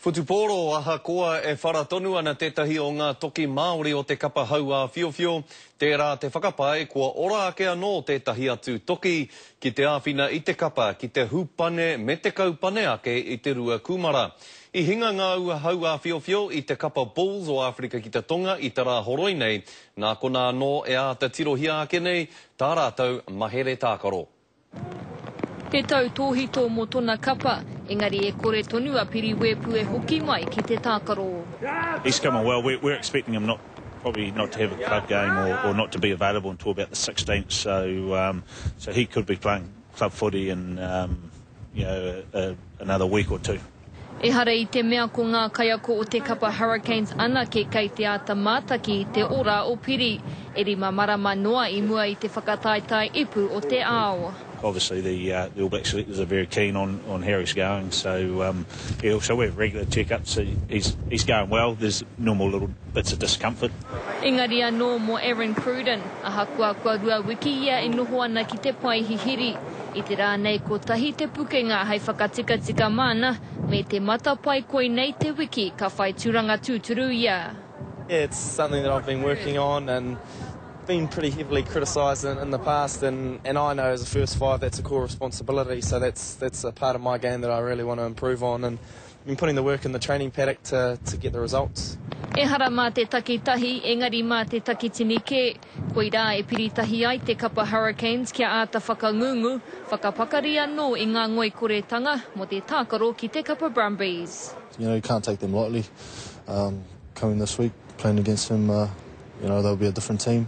Whutupōro, Ahakoa e whara tonu ana tētahi o ngā toki Māori o te kapa hauāwhiowhio, tērā te whakapae kua ora ake anō tētahi atu toki ki te āwhina i te kapa ki te hupane me te kaupane ake i te rua kūmara. I hinga ngā ua hauāwhiowhio i te kapa Bulls o Āwherika ki te Tonga i te rā horoi nei, nā konā anō e āta tirohia ake nei tā rātou mahere tākaro. Te tau tōhito mō tona kapa, engari e kore tonu a Piri Wēpu e hoki mai ki te tākaro. He's come on well, we're we're expecting him not probably not to have a club game or or not to be available until about the 16th, so um, so he could be playing club footy in um, you know a, a, another week or two. Ehara i te mea ko ngā kaiako o te kapa Hurricanes anake kei te āta mātaki i te ora o Piri, e rima marama noa i mua i te whakataetae ipu o te ao. Obviously the the All Black selectors are very keen on on how he's going, so um he also we've regular check ups, so he's he's going well, there's normal little bits of discomfort. Engari anō mō Aaron Cruden, ahakoa kua rua wiki ia e noho ana ki te pae hihiri, I te rā nei kotahi te pukenga hei whakatikatika māna me te matapae koinei te wiki ka whai turanga tūturu ia. Yeah it's something that I've been working on and been pretty heavily criticised in in the past and and I know as a first five that's a core responsibility so that's that's a part of my game that I really want to improve on and Been putting the work in the training paddock to to get the results. Ehara mā te takitahi, engari mā te takitini kē. Koirā e piri tahi ai te kapa Hurricanes kia āta whakangungu, whakapakari anō i ngā ngoikoretanga mō te tākaro ki te kapa Brumbies. You know, you can't take them lightly. Um, coming this week, playing against them, uh, you know, they'll be a different team.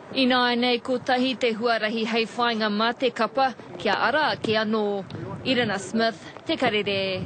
Ināianei kotahi te huarahi hei whāinga mā te kapa kia ara ake anō. Irina Smith, Te Karere.